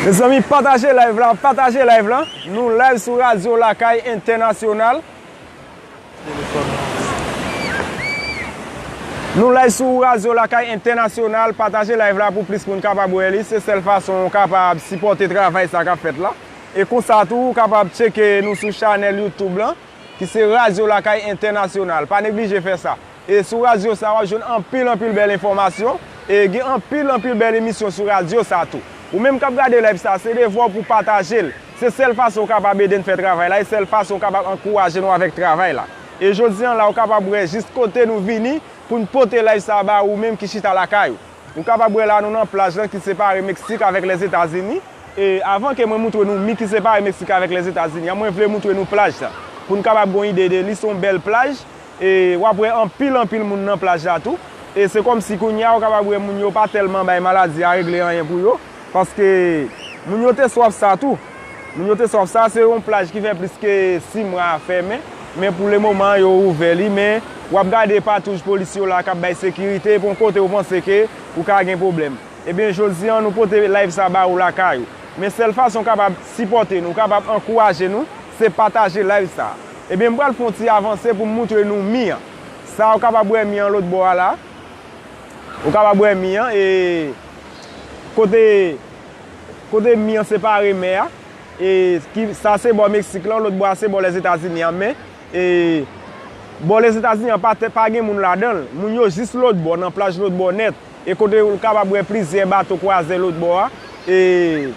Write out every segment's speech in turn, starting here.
Mezanmi pataje live la pataje live la nou live sou radio lakay entènasyonal nou live sou radio lakay entènasyonal pataje live la pou plis moun kapab wè li se sèl fason ou kapab sipòte travay sa kap fèt la e konsa tou ou kapab tcheke nou sou chanèl youtube lan ki se radio lakay entènasyonal pa neglije fè sa. E sou radyo sa wap jwenn anpil anpil bèl enfòmasyon, e gen anpil anpil bèl emisyon sou radyo sa tou. Ou menm kap gade live sa se devwa w pou pataje l, se sèl fason ou kapab ede n fè travay la e sèl fason ou kapab ankouraje nou avèk travay la. E jodi an la ou kapab wè jis kote nou vini pou n pote live sa ba ou menm ki chita lakay ou. Ou kapab wè la nou nan plaj lan ki separe Meksik avèk Lèzetazini, e avan ke mwen moutre nou mi ki separe Meksik avèk Lèzetazini an mwen vle moutre nou plaj sa pou n kapab gon ide de li se yon bèl plaj E wap wè anpil anpil moun nan plaj la tou. E se kòm si kounye a ou kapab wè moun yo pa tèlman bay maladi a regle anyen pou yo. Paske moun yo te swaf sa tou. Moun yo te swaf sa. Se yon plaj ki fè plis ke 6 mwa fèmen. Men pou le moman yo ouvè li. Men wap gade patouj polis yo la kap bay sekirite. E pon kote ou panse ke ou ka gen pwoblèm. Ebyen jodi an nou pote live sa ba ou lakay ou. Men sèl fason ou kapab sipòte nou. Ou kapab ankouraje nou. Se pataje live sa. Ebyen m pral fè yon ti avanse pou m moutre nou mi an. Sa ou kapab wè mi an lòt bò a la. Ou kapab wè mi an e kote kote mi an separe mè a e ki sa se bò Meksik lan lòt bò a se bò Lèzetazini an men e bò Lèzetazini an pa te pa gen moun ladan l. Moun yo jis lòt bò nan plaj lòt bò nèt e kote ou kapab wè plizyè bato kwazè lòt bò a e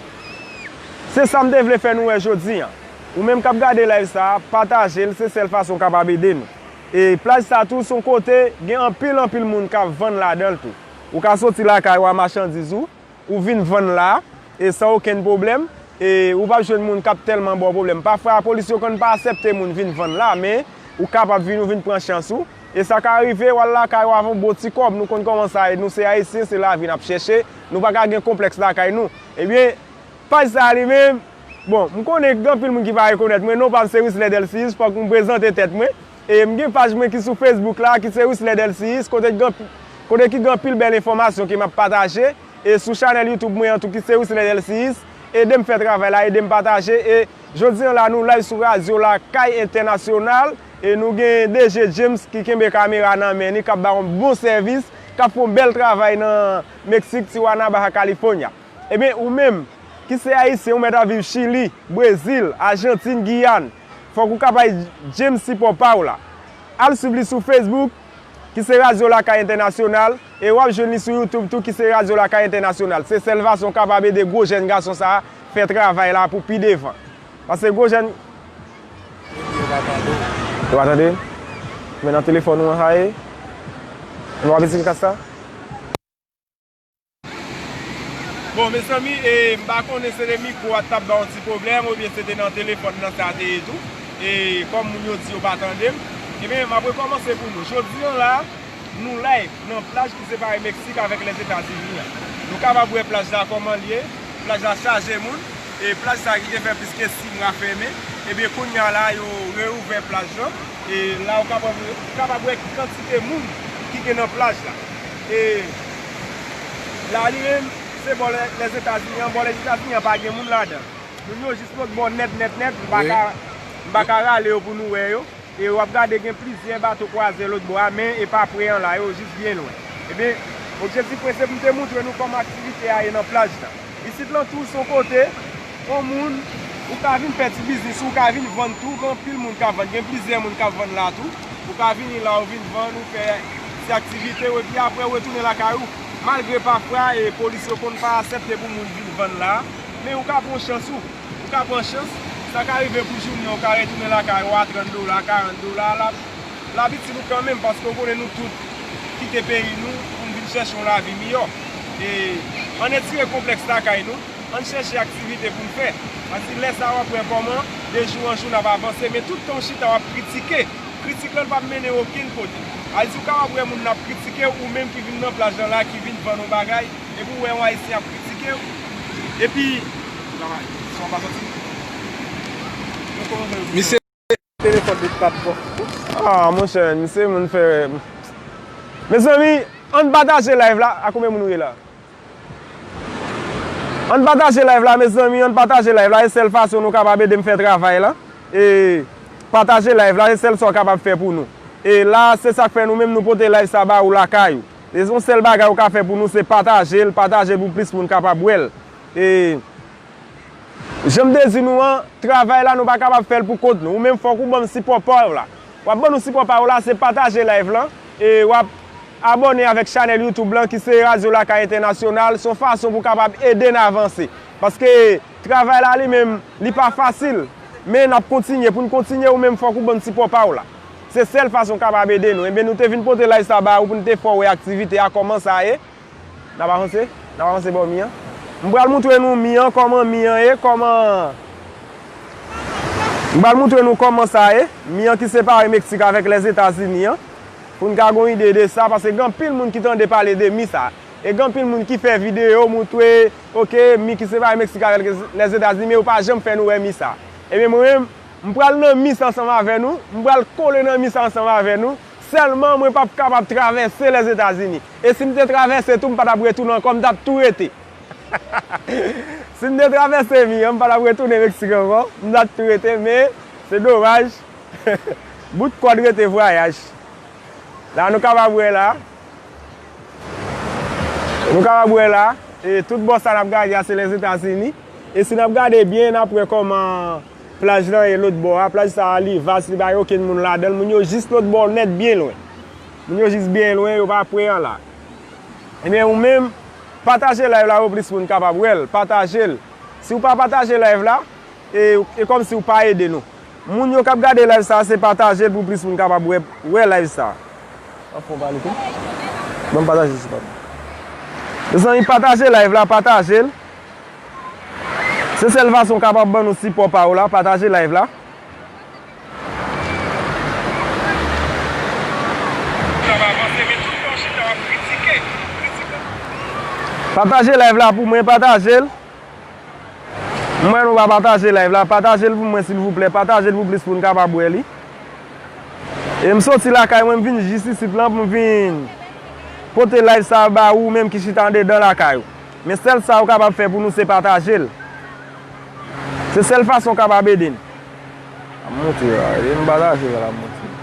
se sa m te vle fè nou wè jodi an. Ou menm kap gade live sa patajel se sèl fason ou kapab ede nou. E plaj sa tou son kote gen anpil anpil moun kap vann ladanl tou. Ou ka soti lakay ou a machandiz ou, ou vin vann la e san okenn pwoblèm e ou pap jwenn moun kap tèlman baw pwoblèm. Pafwa lapolis yo konn pa asèpte moun vin vann la men ou kapab vin ou vin pran chans ou e sa ka rive wal lakay ou avon bon ti kòb nou konn kòman sa ye nou se ayisyen se lavi nap chèche nou paka gen konplèks lakay nou ebyen paj sa li menm Bon, m konnen gen anpil moun ki pa rekonèt mwen, non pa m se Wisler Delcius, fòk m prezante tèt mwen. E m gen paj mwen ki sou Facebook la, ki se Wisler Delcius, kote ki gen anpil bèl enfòmasyon ke m ap pataje, e sou chanèl YouTube mwen an tou ki se Wisler Delcius, ede m fè travay la, ede m pataje, e jodi an la nou live sou radyo lakay entènasyonal, e nou gen DG James ki kenbe kamera nan men ni, k ap ba yon bon sèvis, k ap fè yon bèl travay nan Meksik, Tijuana, Baja California. Ebyen ou menm, ki se ayisyen ou mèt ap viv chili, brezil, ajantin, giyàn, fòk ou ka bay James sipò pa ou la. Al swiv li sou facebook, ki se Radyo Lakay Entènasyonal, e wap jwenn li sou youtube tou ki se Radyo Lakay Entènasyonal. Se sèl fason ou kapab ede gwo jèn gason sa a fè travay la pou pi devan. Pase gwo jèn. Epi yo pa tande w. Yo pa tande m? Men nan telefòn ou an haye. Nou pa bezwen kasa? Bon mezanmi e m pa konnen se le mikro a tap bay yon ti pwoblèm oubyen se te nan telefòn nan sa te ye tou e kòm moun yo di yo pa tande m Ebyen m ap rekòmanse pou nou Jodi an la nou live nan plaj ki separe Meksik avèk Lèzetazini an Nou kapab wè plaj la kòman l ye Plaj la chaje moun e plaj sa ki te fè plis ke 6 mwa fèmen Ebyen kounye a la yo reouvè plaj lan e la ou kapab wè kantite moun ki gen nan plaj la. E la li menm se bò lèzetazini an, bò lèzetazini an pa gen moun ladan. Moun yo jis lòt bò nèt nèt nèt, m paka m paka rale yo pou nou wè yo. E wap gade gen plizyè bato kwazè lòt bò a men e pa pre an la, yo jis byen lwen. Ebyen objektif mwen se pou m te moutre nou kòman aktivite a ye nan plaj la. Isit lan tou son kote on moun ou ka vin fè ti biznis ou ka vin vann tou gen anpil moun kap vann gen plizyè moun kap vann la tou ou ka vini la ou vin vann ou fè ti aktivite ou epi aprè ou retounen lakay ou malgre pafwa e polis yo konn pa asèpte pou moun vin vann la men ou ka pran chans ou ou ka pran chans sa ka rive pou jounen ou ka retounen lakay ou a 30 dola 40 dola lap. Lavi ti nou kanmenm paske ou konnen nou tout kite peyi nou poun vin chèche yon lavi miyò e ann etire konplèks lakay nou ann chèche aktivite poun fè pase lè sa wap wè kòman de jou an jou nap avanse men tout tan ou chita wap kritike kritik lan pap mennen okenn kote al si ou kapab wè moun ap kritikew ou menm ki vin nan plaj lan la ki vin vann yon bagay epi ou wè yon ayisyen ap kritikew epi. Misye. Aah monchè misye moun fè Mezanmi ann pataje live la a konbyen moun nou ye la Ann pataje live la mezanmi ann pataje live la e sèl fason nou kapab edem fè travay lan e pataje live la e sèl sa w kapab fè pou nou e la se sak fè nou menm nou pote live sa ba ou lakay ou e son sèl bagay ou ka fè pou nou se patajel patajel pou plis moun kapab wèl e. Jan m te di nou an, travay la nou pa kapab fè l pou kont nou. Ou menm fòk ou ban m sipò pa w la. W ap ban nou sipò pa w la se pataje live lan e w ap Abòne avèk chanèl YouTube lan ki se Radyo Lakay Entènasyonal. S on fason pou kapab ede n avanse. Paske travay la li menm li pa fasil. Men n ap kontinye. Pou n kontinye ou menm fòk ou ban n sipò pa w la. Se sèl fason w kapab ede nou. Enben nou te vin pote live sa ba ou pou n te fè w wè aktivite a kòman sa ye. Nap avanse, nap avanse bò mi an. M pral moutre nou mi an kòman mi an ye, kòman M pral moutre nou kòman sa ye, mi an ki separe Meksik avèk Lèzetazini an, pou n ka gon ide de sa, paske gen anpil moun ki tande pale de mi sa. E gen anpil moun ki fè videyo moutre, ok, mi ki separe Meksik avèk Lèzetazini, men yo pa janm fè nou wè mi sa. Ebyen mwen menm, m pral nan mi sa ansanm avè nou, m pral kole nan mi sa ansanm avè nou. Sèlman mwen pap kapab travèse Lèzetazini. E si m te travèse tou m pa t ap retounen ankò, m t ap tou rete. Si m te travèse mi an, m pa t ap retounen Meksik ankò, m ta tou rete men se domaj bout kòd rete vwayaj. La nou kapab wè la, nou kapab wè la, e tout bò sa n ap gade a se Lèzetazini. E si n ap gade byen n ap wè kòman. Plaj lan e lôt bò a. Plaj sa a li vas, li pa gen okenn moun ladan l. Moun yo jis lôt bò nèt byen lwen. Moun yo jis byen lwen, yo pa pre an la. Ebyen ou menm, pataje live la pou plis moun kapab wè l. Pataje l. Si ou pa pataje live la, e e kòm si ou pa ede nou. Moun yo k ap gade live sa a se pataje l pou plis moun kapab wè wè live sa a. Ou ap fè yon pale tou? Ban m pataje sou pa m. Mezanmi pataje live la, pataje l. Se sèl fason kapab ban nou sipò pa ou la pataje live la. Pataje live la pou mwen patajel. M wè nou pa pataje live la patajel pou mwen silvouplè patajel pou plis moun kapab wè li. E m soti lakay mwen m vin jis isit lan pou m vin pote live sa ba ou menm ki chita andedan lakay ou. Men sèl sa ou kapab fè pou nou se pataje l. Se sèl fason ou kapab ede n. Ap monte la, ede m pataje l ap monte.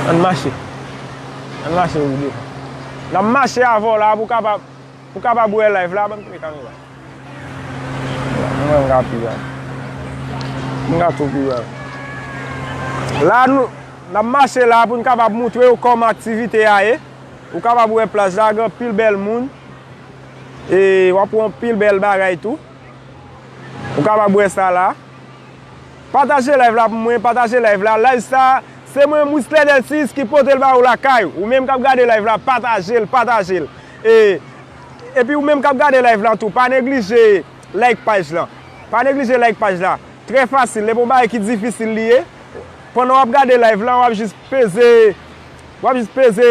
Ann mache. Ann mache pou devan. N ap mache avè w la pou w kapab. Ou kapab wè live la banm kle kamera. Mwen ka pi byen. Mwen ka tou pi byen. La nou nap mache la pou nou kapab moutrew kòman aktivite a ye. Ou kapab wè plaj la gen anpil bèl moun. E wap wè anpil bèl bagay tou. Ou kapab wè sa la. Pataje live la pou mwen, pataje live la. Live sa se mwen Wisler Delcius ki potel ba ou lakay ou. Ou menm kap gade live la patajel, patajel. E Epi ou menm kap gade live la tou pa neglije like paj la pa neglije like paj la trè fasil epa yon bagay ki difisil li ye pandan wap gade live la wap jis peze wap jis peze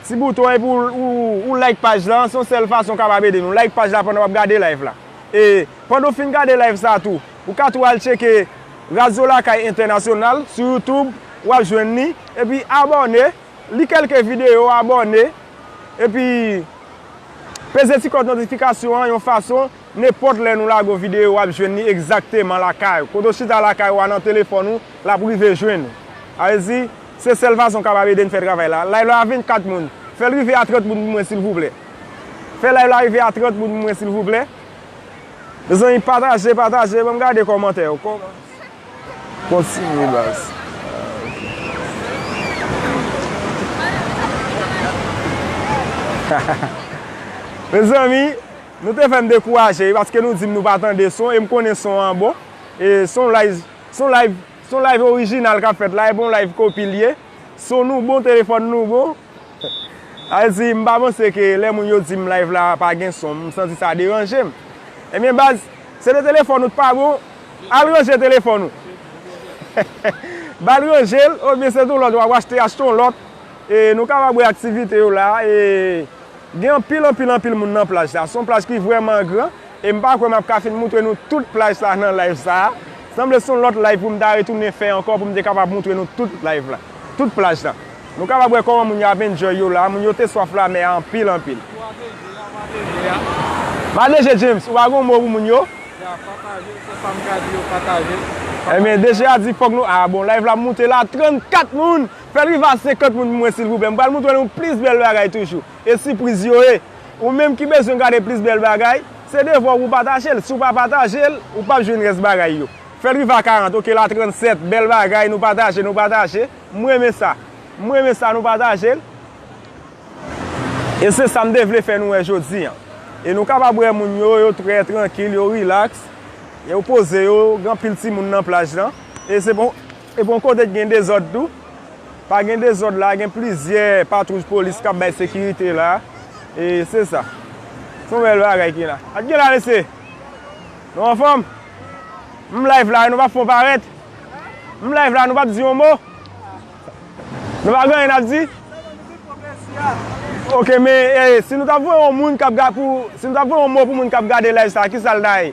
ti bouton an epi ou like paj la se yon sèl fason kapab ede nou like paj la pandan wap gade live la e pandan ou fin gade live sa tou ou ka tou al tcheke radyo lakay entènasyonal sou youtube wap jwenn li epi abòne li kèlke videyo abòne. Epi Peze ti kòd notifikasyon an yon fason nenpòt lè nou lage yon videyo wap jwenn li egzakteman lakay ou. Kote w chita lakay ou a nan telefòn ou lap rive jwenn ou. Sa vle di se sèl fason kapab ede n fè travay la. Live la a 24 moun. Fèl rive a 30 moun pou mwen silvouplè. Fè live la rive a 30 moun pou mwen silvouplè. Mezanmi pataje pataje banm gade kòmantè yo. Kontinye baz. Mezanmi Nou te fèm dekouraje wi paske nou dim nou pa tande son em konnen son an bon e son live son live son live original kap fèt la epi yon live kopi liye son nou bon telefòn nou bon. Alzi, Mpa panse ke lè moun yo dim live la pa gen son, msanti sa deranjem. Ebyen baz, se de telefòn ou t pa bon, al ranje telefòn ou. Bal ranjel, oubyen se ton lòt wap achte, achte yon lòt. E nou kapab wè aktivite yo la, e gen anpil anpil anpil moun nan plaj la. Son plaj ki vrèman gran. E m pa kwè m ap ka fin moutre nou tout plaj sa nan live sa. Sanble son lòt live pou m ta retounen fè ankò pou m te kapab moutre nou tout live la. Tout plaj la. Nou kapab wè kòman moun yo ap enjoy yo la. Moun yo te swaf lamè a anpil anpil. Ou ap de je a, ou ap de je a. M ap de je James. Ou pa gen yon mo pou moun yo? Ya, pataje l, se sa m ka di yo, pataje l. Ebyen de je a di fòk nou, ah bon live la ap moute la 34 moun! Fè l rive a 50 moun pou mwen silvouplè. M pral moutre nou plis bèl bagay toujou. E sipriz yo ye! Ou menm ki bezwen gade plis bèl bagay, se devwa w pou w pataje l. Si w pa pataje l, ou pap jwenn rès bagay yo. Fèl rive a 40, ok la 37, bèl bagay, nou pataje, nou pataje. M renmen sa. M renmen sa nou pataje l. E se sa m te vle fè nou wè jodi an. E nou kapab wè moun yo, yo trè trankil, yo rilaks, yo poze yo, gen anpil timoun nan plaj lan. E se bon. Epi yon kote ki gen dezòd tou. Pa gen dezòd la, gen plizyè patwouj polis k ap bay sekirite la. E se sa. Se yon bèl bagay ki la. Ak kilè mesye? Nou anfòm? M live la e nou pa fè yon parèt? M live la nou pa p di yon mo? Nou pa gen anyen n ap di? Ok men si nou ta voye yon moun k ap gade si nou ta voye yon mo pou moun k ap gade live sa ki sa l ta ye?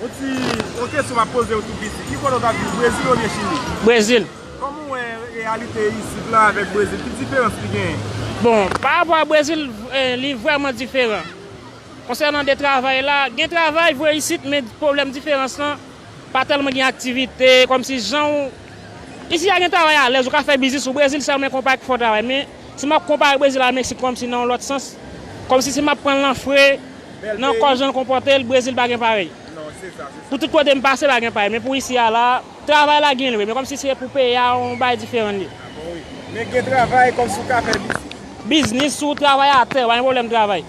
Yon ti yon kesyon map pozew tou piti, ki kote ou tap viv Brezil oubyen Chili? Brezil. Kòman ou wè reyalite isit lan avèk Brezil, ki diferans ki genyen? Bon, pa rapò a Brezil, li vrèman diferan. Konsènan de travay la, gen travay vre isit men pwoblèm diferans lan, pa tèlman gen aktivite, kòmsi janw, isi a gen travay alèz, ou ka fè biznis ou, Brezil sa mwen konpa ak fò travay men. Si map konpare Brezil a Meksik kòmsi nan yon lòt sans, kòmsi si map pranl nan fre, nan kò janl konpòtel, Brezil pa gen parèy. Pou tout kote m pase pa gen parèy, men pou isi a la, travay la gen vre, men kòmsi se pou peyi a yon bagay diferan l ye. Men gen travay, kòmsi ou ka fè biznis. Biznis, si w travay atè, ou pa gen pwoblèm travay.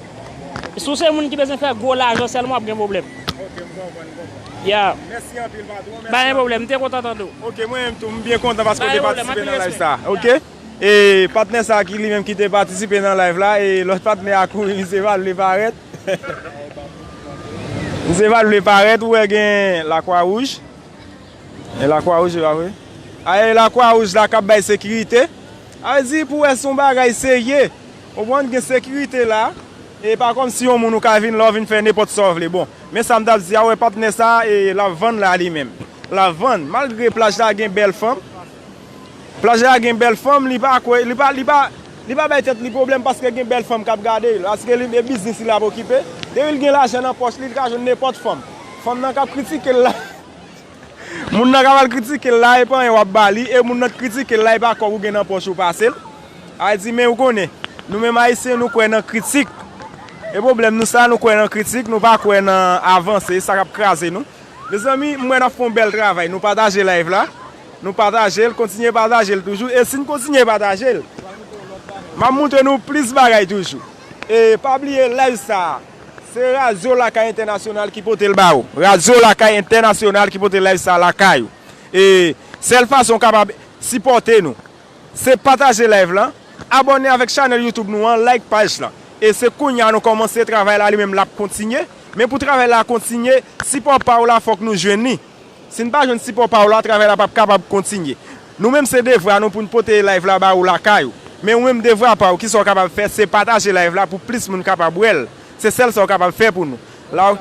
Si w se moun ki bezwen fè gwo lajan sèlman wap gen pwoblèm. Ok, m konprann, m konprann. Yeah. Mèsi anpil patwon, mèsi anpil. Pa gen pwoblèm, m te kontan tande w. Ok, mwen menm tou, m byen kontan paske w te patisipe nan live sa a. Ok. E patnè sa ki li menm ki te patisipe nan live la e lòt patnè a kouri misye pa vle parèt misye pa vle parèt ou wè gen la kwa wouj e la kwa wouj yo a vre a e la kwa wouj la kap bay sekirite a vle di pou wè son bagay serye ou konprann gen sekirite la e pa kòm si yon moun ou ka vin la ou vin fè nenpòt sa ou vle bon men sa m tap di a ou wè patnè sa e lap vann la li menm lap vann malgre plaj la gen bèl fanm Plaj la gen bèl fanm li pa kwe li pa bay tèt li pwoblèm paske gen bèl fanm kap gade l paske li e biznis li lap okipe depi l gen lajan nan pòch li li ka jwenn nenpòt fanm fanm nan kap kritike l la moun nan kap al kritike l la e pa anyen wap ba li e moun nan t kritike l la e pa kòb ou gen nan pòch ou pase l al di men ou konnen nou menm ayisyen nou kwè nan kritik e pwoblèm nou sa nou kwè nan kritik nou pa kwè nan avanse e sa kap kraze nou mezanmi m wè nap fon bèl travay nou pataje live la. Nou patajel, kontinye patajel toujou e sin kontinye patajel map moutre nou plis bagay toujou e pa bliye live sa se radio lakay entènasyonal ki potel ba ou radio lakay entènasyonal ki pote live sa lakay ou e sèl fason ou kapab sipòte nou se pataje live lan abòne avèk chanèl youtube nou an like paj lan e se kounya nou kòmanse travay la li menm lap kontinye men pou travay la kontinye sipò pa ou la fòk nou jwenn li. Si n pa jwenn sipò pa w la, travay la pap kapab kontinye. Nou menm se devwa nou pou n pote live la ba ou lakay ou. Men ou menm devwa pa ou kisa w kapab fè se pataje live la pou plis moun kapab wè l. Se sèl sa w kapab fè pou nou. La ou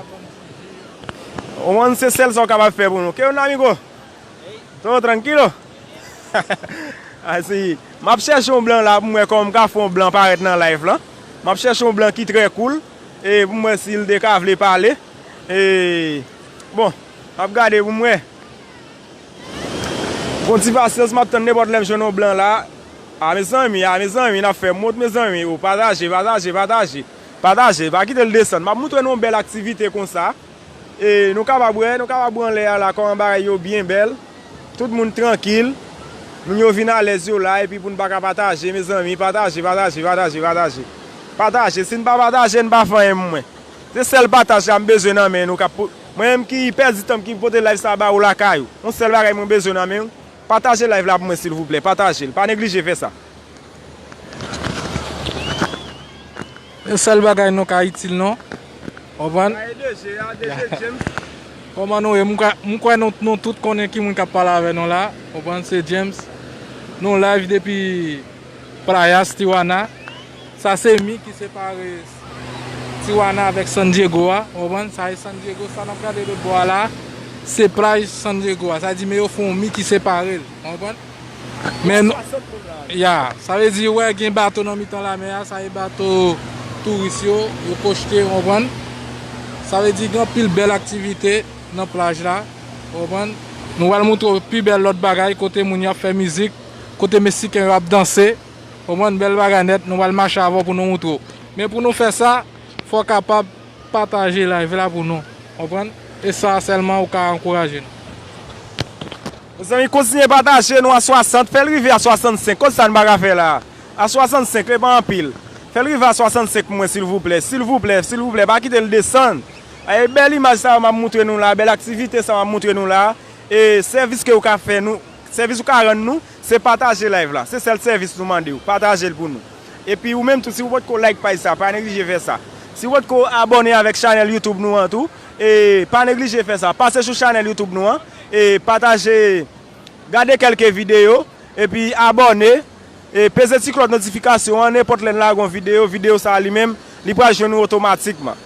konprann se sèl sa w kapab fè pou nou. Que onda amigo? Todo tranquilo? Ay si. M ap chèche yon blan la pou m wè kòman m ka fè yon blan parèt nan live la. M ap chèche yon blan ki trè cool e pou m wè si l te ka vle pale e bon. Map gade poum wè. Gon ti pasyans map tann nenpòt lèm jwenn yon blan la a mezanmi a mezanmi nap fè mond mezanmi oh pataje pataje pataje pataje pa kitel desann map moutre nou yon bèl aktivite konsa e nou kapab wè nou kapab wè anlè a la kòman bagay yo byen bèl tout moun trankil moun yo vin alèz yo la epi poun paka pataje mezanmi pataje pataje pataje pataje pataje sin pa pataje n pa fanyen mwen Se sèl pataj sa m bezwen nan men nou kap pou mwen menm ki pèdi tanm ki pote live sa ba ou lakay ou yon sèl bagay mwen bezwen nan menw pataje live la pou mwen silvouplè patajel pa neglije fè sa. Yon sèl bagay nou ka itil nou konprann kòman nou ye m kwè nou tout konnen ki moun kap pale avè nou la konprann se James nou live depi playas tijuana sa se mi ki separe. Tijuana avèk San Diego a, ou konprann, sa e San Diego, sa nap gade lòt bò a la a, se plaj San Diego a, sa di men yo fè yon mi ki separe l, ou konprann? Men, ya, sa vle di ou wè gen bato nan mitan lamè a, sa e bato touris yo, yo kochte, ou konprann? Sa vle di gen anpil bèl aktivite nan plaj la, ou konprann? Nou pral montre w pi bèl lòt bagay, kote moun yo ap fè mizik, kote Mesiken yo ap danse. Ou konprann bèl bagay nèt nou pral mache avèw pou nou moutre w men pou nou fè sa fòw kapab pataje live la pou nou konprann e sa sèlman ou ka ankouraje nou. Mezanmi kontinye pataje nou a 60 fèl rive a 65 kot sa nou paka fè la a 65 li pa anpil fèl rive a 65 pou mwen silvouplè silvouplè silvouplè pa kitel desann e bèl imaj sa yo map moutre nou la bèl aktivite sa map moutre nou la e sèvis ke ou ka fè nou sèvis ou ka rann nou Se pataje live la. Se sèl sèvis nou mandew. Patajel pou nou. Epi ou menm tou si ou potko like paj sa pa neglije fè sa. Si ou potko abòne avèk chanèl YouTube nou an tou e pa neglije fè sa. Pase sou chanèl YouTube nou an e pataje gade kelke videyo epi abòne e peze ti klòch notifikasyon an nenpòt lèn lage yon videyo, videyo sa li menm li pral jwenn ou otomatikman.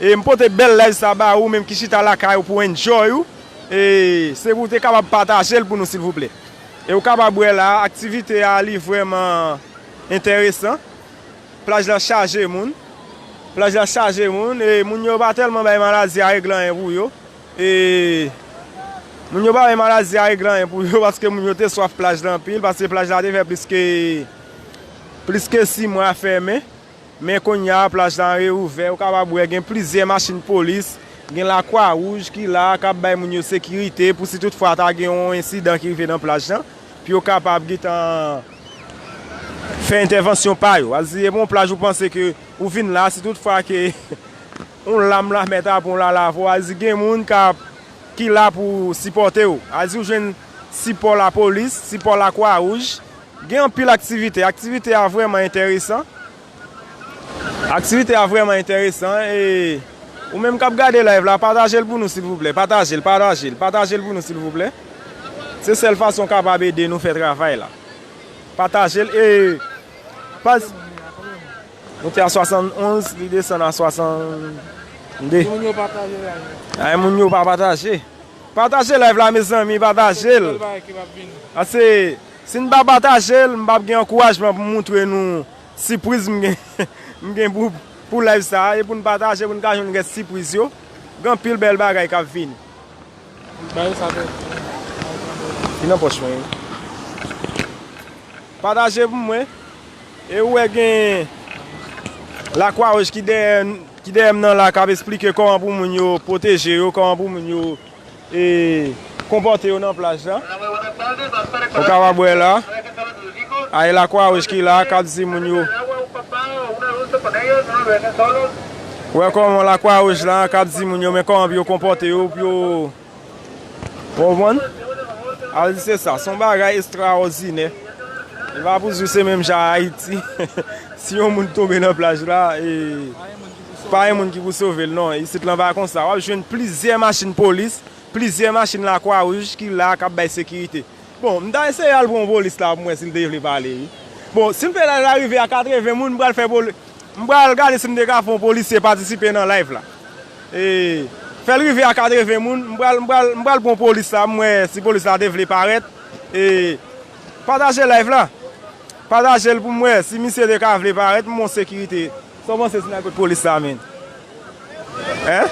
E m pote bèl live sa ba ou menm ki chita lakay ou pou enjoy ou e se pou ou te kapab pataje l pou nou silvouplè. E ou kapab wè la a aktivite a li vrèman enteresan. Plaj la chaje moun. Plaj la chaje moun e moun yo pa tèlman bay maladi a regle anyen pou yo. E moun yo pa bay maladi a regle anyen pou yo paske moun yo te swaf plaj la anpil paske plaj la te fè plis ke plis ke 6 mwa fèmen. Men kounya plaj la reouvè, ou kapab wè gen plizyè machin polis, gen lakwa wouj ki la a kap bay moun yo sekirite pou si tout fwa ta gen yon ensidan ki rive nan plaj la, pou yo kapab gentan fè entèvansyon pa yo. Al si e pa yon plaj ou panse ke ou vin la, si tout fwa ke yon lam lamè ta pran w la lave w, al di gen moun kap ki la pou sipòte w. Al di ou jwenn sipò lapolis, sipò lakwa wouj, Gen anpil aktivite. Aktivite a vrèman enteresan. Aktivite a vrèman enteresan. E ou menm kap gade live la pataje l pou nou silvouplè. Pataje l, pataje l, pataje l pou nou silvouplè. Se sèl fason w kapab ede nou fè travay la. Pataje l e pas. Nou te a 71 li desann a 62. Moun yo pa pataje live la. Ay moun yo pa pataje. Pataje live la mezanmi pataje l. Paske gen bèl bagay ki pap vini. Paske Si n pa pataje l, m pap gen ankourajman pou m moutre nou sipriz m gen m gen pou live sa a. E pou n pataje pou n ka jwenn rès sipriz yo. Gen anpil bèl bagay k ap vini. Li nan pòch mwen wi. Pataje pou mwen. E ou wè gen la kwa wouj ki dèyè m nan la k ap esplike kòman pou moun yo pwoteje yo, kòman pou moun yo. e konpòte yo nan plaj la ou kapab wè la ay la kwa wouj ki la kap di moun yo wè kòman la kwa wouj la kap di moun yo men kòman pou yo konpòte yo pou yo konprann al di se sa son bagay estra òdinè e pa pou di se menm jan a ayiti si yon moun tonbe nan plaj la e Pa gen moun ki pou sove l non. Isit lan pa konsa. W ap jwenn plizyè machin polis, plizyè machin lakwa wouj ki la k ap bay sekirite. Bon, m ta eseye al pran polis la pou m wè si l te vle pale wi. Bon, si m fè laj la rive a 80 moun, m pral fè poli, m pral gade si m te ka fè yon polisye patisipe nan live la. Ee, fè l rive a 80 moun, m pral, m pral, m pral pran polis la pou m wè si polis la te vle parèt. Ee, pataje live la. Pataje l pou m wè si misye te ka vle parèt pou m wè yon sekirite. Sa w panse Sina kot polis la menn? Hein?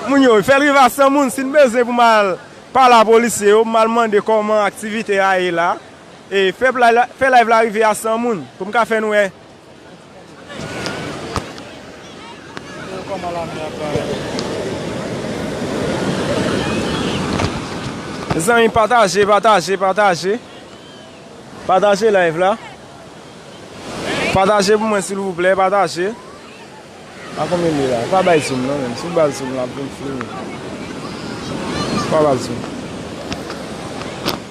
Moun yo, fèl riva san moun, sin bezwen pou m al pale a polisye yo, m al mande kòman aktivite a ye la, e fè live la rive a san moun, pou m ka fè n wè. Mezanmi pataje, pataje, pataje. Pataje live la. Pataje pou mwen silvouplè pataje. A konbyen li ye la? Ou pa bay zoom non menm. Si w bal zoom la pou m fini. Ou pa bal zoom.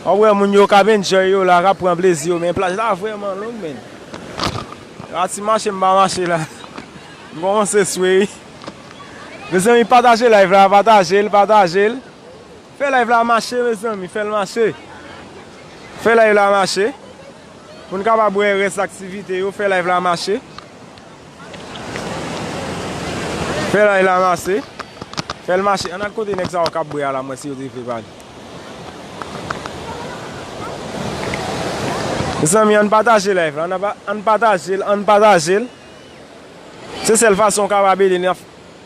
Wap wè moun yo kap enjoy yo la, kap pran plezi yo men plaj la vrèman long menn. A ti mache m pa mache la. M kòmanse swe wi. Mezanmi pataje live la, pataje l, pataje l. Fè live la mache mezanmi fèl mache fè live la mache pou n kapab wè rès aktivite yo fè live la mache fè live la mache fèl mache ann al kote nèg sa yo kap bwè a la m wè si yo te vle pale mezanmi ann pataje live la ann patajel ann patajel se sèl fason w kapab ede n.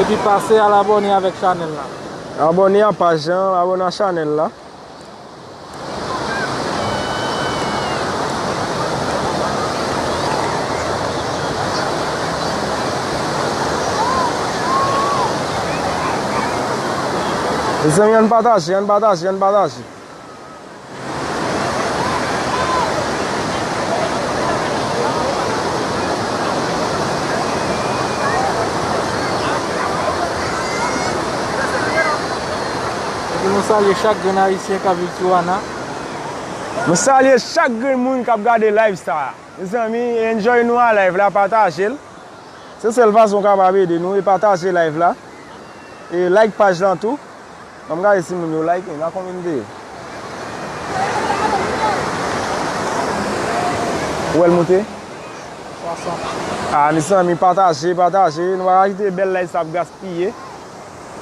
Epi pase al abone avek chanel la. Abone a paj lan, abone a chanel la. Mezanmi ann pataje, ann pataje, ann pataje. Mwen salye chak grenn ayisyen kap viv Tijuana. Mwen salye chak grenn moun kap gade live sa. Mezanmi enjoy nou a live la patajel. Se sèl fason ou kapab ede nou e pataje live la. E like paj lan tou. Anm gade si moun yo like la konbyen nou te ye ou wèl moute 60 ah mezanmi pataje pataje nou paka kite bèl live sa ap gaspiye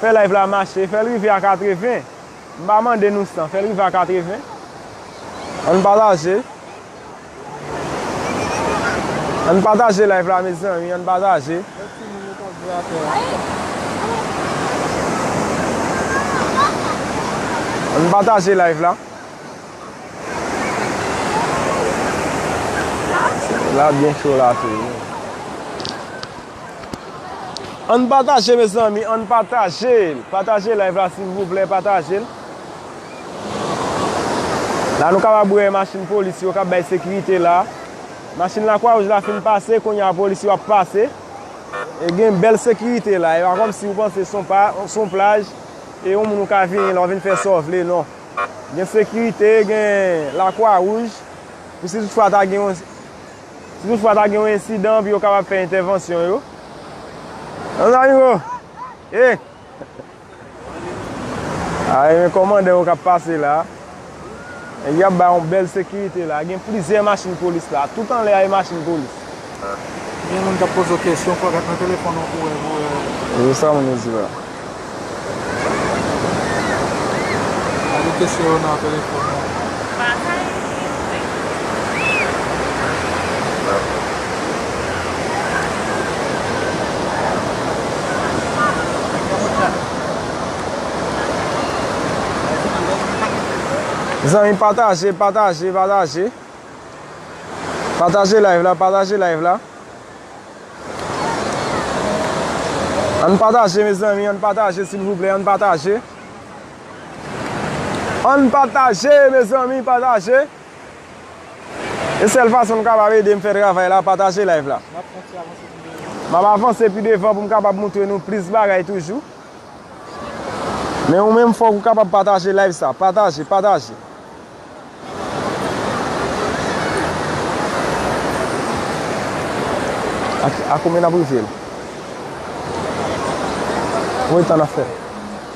fè live la mache fèl rive a 80 m pa mande nou 100 fèl rive a 80 ann pataje. Ann pataje live la mezanmi ann pataje. Lè ti moun yo kap jwe atè a. Ann pataje live la. La byen cho la tou. Ann pataje mezanmi ann pataje. Pataje live la silvouplè pataje. La nou kapab wè machin polis yo kap bay sekirite la. Machin la kwa wouj la fin pase kounye a polis yo ap pase. E gen bèl sekirite la. E pa kòm si ou panse son pa son plaj. E yon moun ou ka vini la ou vin fè sa ou vle non. Gen sekirite gen la kwa wouj. Pou si tout fwa ta gen yon si tout fwa ta gen yon ensidan pou yo kapab fè entèvansyon yo. Zanmi yo. Hey. A gen kòmandè yo k ap pase la. Nèg yo ap bay yon bèl sekirite la. Gen plizyè machin polis la. Tout anlè a e machin polis. Gen moun k ap poze w kesyon. Fò w gad nan telefòn ou pou w wè. Se sa moun yo di la. Gade kesyon yo nan telefòn ou. Zanmi pataje, pataje, pataje Pataje live la, pataje live la An pataje me zanmi, an pataje silvouplè, an pataje An pataje me zanmi, pataje E sèl fason m kapab ede m fè travay la pataje live la. Map avanse pi devan pou m kapab moutre nou plis bagay toujou. Men ou menm fòk ou kapab pataje live sa. Pataje, pataje. A konbyen nap rive l? Konbyen tan nap fè?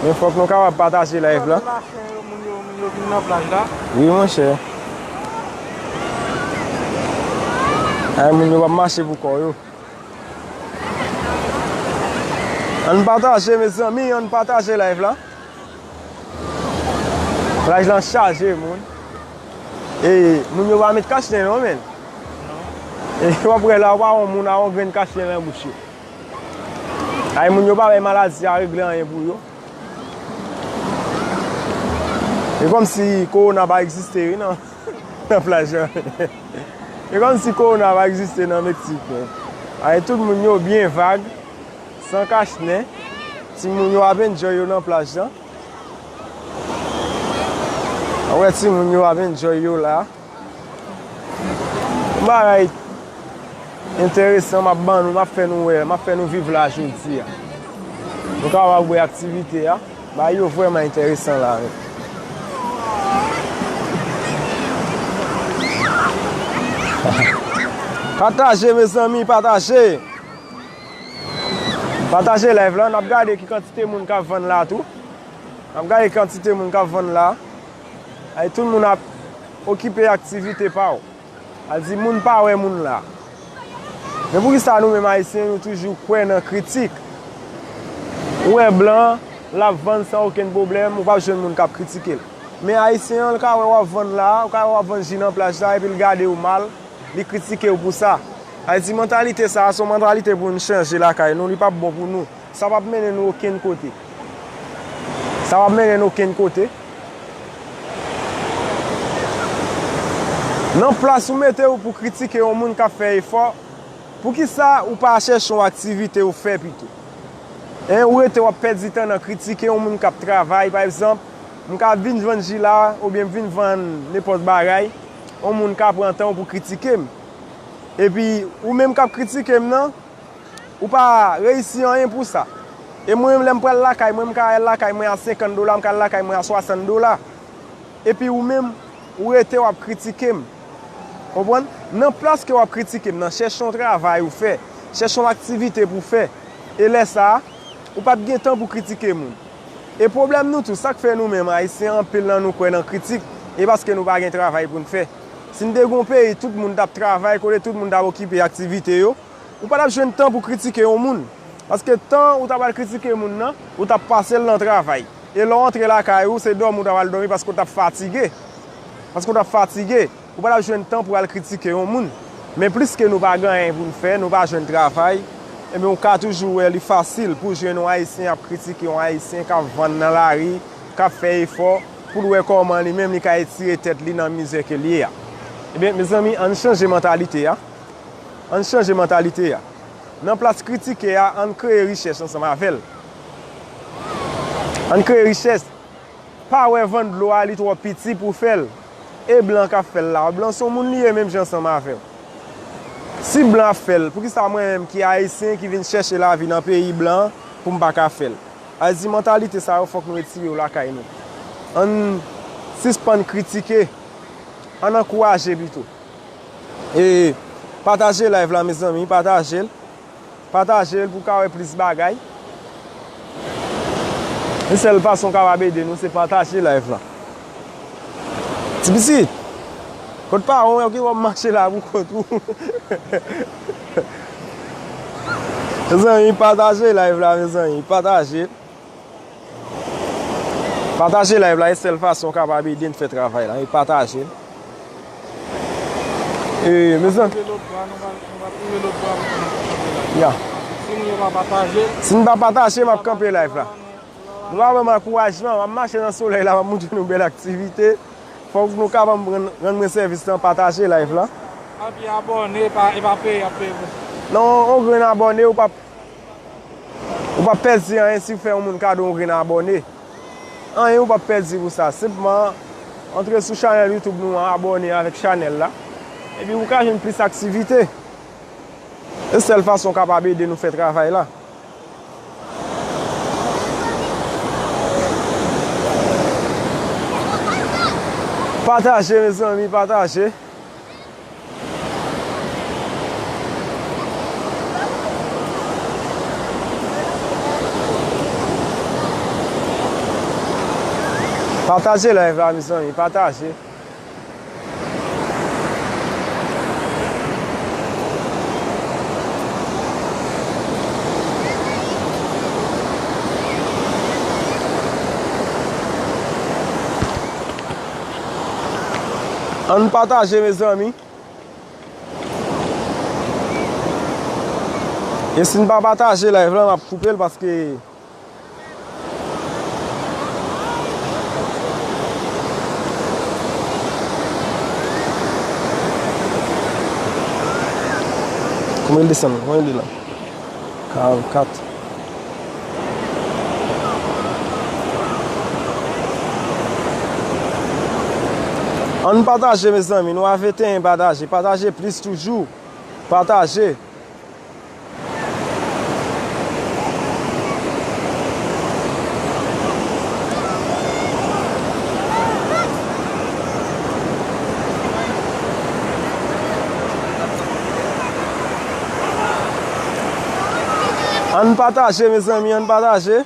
Men fok nou kapab pataje live la. Wi monche. Ay moun yo wap mache pou kò yo. An pataje me zanmi, an pataje live la. Plaj lan chaje moun. E moun yo wap met kachnen non men. E wap wè la wap wè moun a wap gren kachnen nan bouch yo. Ay moun yo pa bay maladi a regle anyen pou yo. E kom si korona pa egziste wi nan plaj la. E kom si korona pa egziste nan Meksik. Ay tout moun yo byen vag, san kach ne. Ti moun yo ap enjoy yo nan plaj la. Awe ti moun yo ap enjoy yo la. Yon bagay enteresan m ap ban nou, m ap fè nou wè, m ap fè nou viv la jodi a. Nou kapab wè aktivite a, bagay yo vrèman enteresan la menm. Pataje mezanmi, pataje! Pataje live la, n ap gade ki kantite moun k ap vann la tou. N ap gade ki kantite moun k ap vann la. Ay tout moun ap okipe aktivite pa w. Al di moun pa wè moun la. Men pou ki sa nou menm ayisyen nou toujou kwè nan kritik. Ou wè blan, l ap vann san okenn pwoblèm, ou pa p jwenn moun k ap kritike l. Men ayisyen an, l ka wè w ap vann la, ou ka wè w ap vann ji nan plaj la, epi l gade w mal, li kritike w pou sa. Ay di mantalite sa a, se yon mantalite pou nou chanje lakay nou, li pa p bon pou nou. Sa pap mennen nou okenn kote. Sa pap mennen n okenn kote. Nan plas ou mete w pou kritike yon moun k ap fè efò, poukisa ou pa chèche yon aktivite ou fè pito? Hein, ou rete w ap pèdi tan nan kritike yon moun k ap travay, pa egzanp, m ka vin vann ji la oubyen m vin vann nenpòt bagay, yon moun ka pran tan pou kritike m. Epi, ou menm k ap kritike m nan, Ou pa reyisi anyen pou sa. E mwen menm lè m pral lakay mwen, m ka al lakay mwen a 50 dola, m ka al lakay mwen a 60 dola. Epi ou menm, ou rete w ap kritike m. Konprann? Nan plas ke w ap kritike m nan, chèche yon travay ou fè. Chèche yon aktivite pou w fè. E lè sa a, ou p ap gen tan pou kritike moun. E pwoblèm nou tou, sa k fè nou menm Ayisyen, anpil nan nou kwè nan kritik, e paske nou pa gen travay pou n fè. Si n te gen yon peyi tout moun t ap travay, kote tout moun t ap okipe aktivite yo, Ou pa tap jwenn tan pou kritike yon moun. Paske tan ou ta pral kritike moun nan, ou tap pase l nan travay. E lè w antre lakay ou, se dòmi ou ta pral dòmi paske ou tap fatige. Paske ou tap fatige. Ou pa tap jwenn tan pou al kritike yon moun. Men pliske nou pa gen anyen pou n fè, nou pa jwenn travay, enben ou ka toujou wè li fasil pou w jwenn yon Ayisyen ap kritike yon Ayisyen k ap vann nan lari, k ap fè efò, pou l wè kòman li menm li ka etire tèt li nan mizè ke l ye a. Enben, mezanmi, ann chanje mantalite a. Ann chanje mantalite a. Nan plas kritike a, ann kreye richès ansanm avè l. Ann kreye richès. Pa wè van dlo a li twò piti pou fè l. E blan k ap fè l la? Blan s on moun li ye menm jan ansanm avè w. Si blan ap fè l, poukisa mwen menm ki ayisyen ki vin chèche lavi nan peyi blan pou m pa ka fè l? Ayiti mantalite sa yo fòk nou retire yo lakay nou. Ann sispann kritike. Ann ankouraje pito. E pataje live la mezanmi patajel patajel pou ka wè plis bagay yon sèl fason kapab ede nou se pataje live la ti pitit kot paranw yo ki wè wap mache la pou kont ou mezanmi pataje live la mezanmi patajel. Pataje live la e sèl fason kapab ede n fè travay la e pataje e mezan ya si n pa pataje m ap kanpe live la nou pa banm ankourajman m ap mache nan solèy la m ap montre nou bèl aktivite fòk nou ka banm rann mwen sèvis nan pataje live la epi abòne e pa peye y ap peye pou sa nan yon grenn abòne ou pap Ou pap pèdi anyen si ou fè yon moun kado yon grenn abòne. Anyen ou pap pèdi pou sa. Senpman, antre sou chanèl YouTube nou an, abòne avèk chanèl la. Epi ou ka jwenn plis aktivite. Se sèl fason ou kapab ede nou fè travay la. Pataje mezanmi, pataje. Pataje live la mezanmi pataje. Ann pataje mezanmi. E si n pa pataje live la map koupe l paske Kouman l desann? Kouman l ye la? 44 Ann pataje mezanmi nou avetenyen pataje pataje plis toujou pataje. Ann pataje mezanmi ann pataje.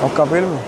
Mwen kanpe l men.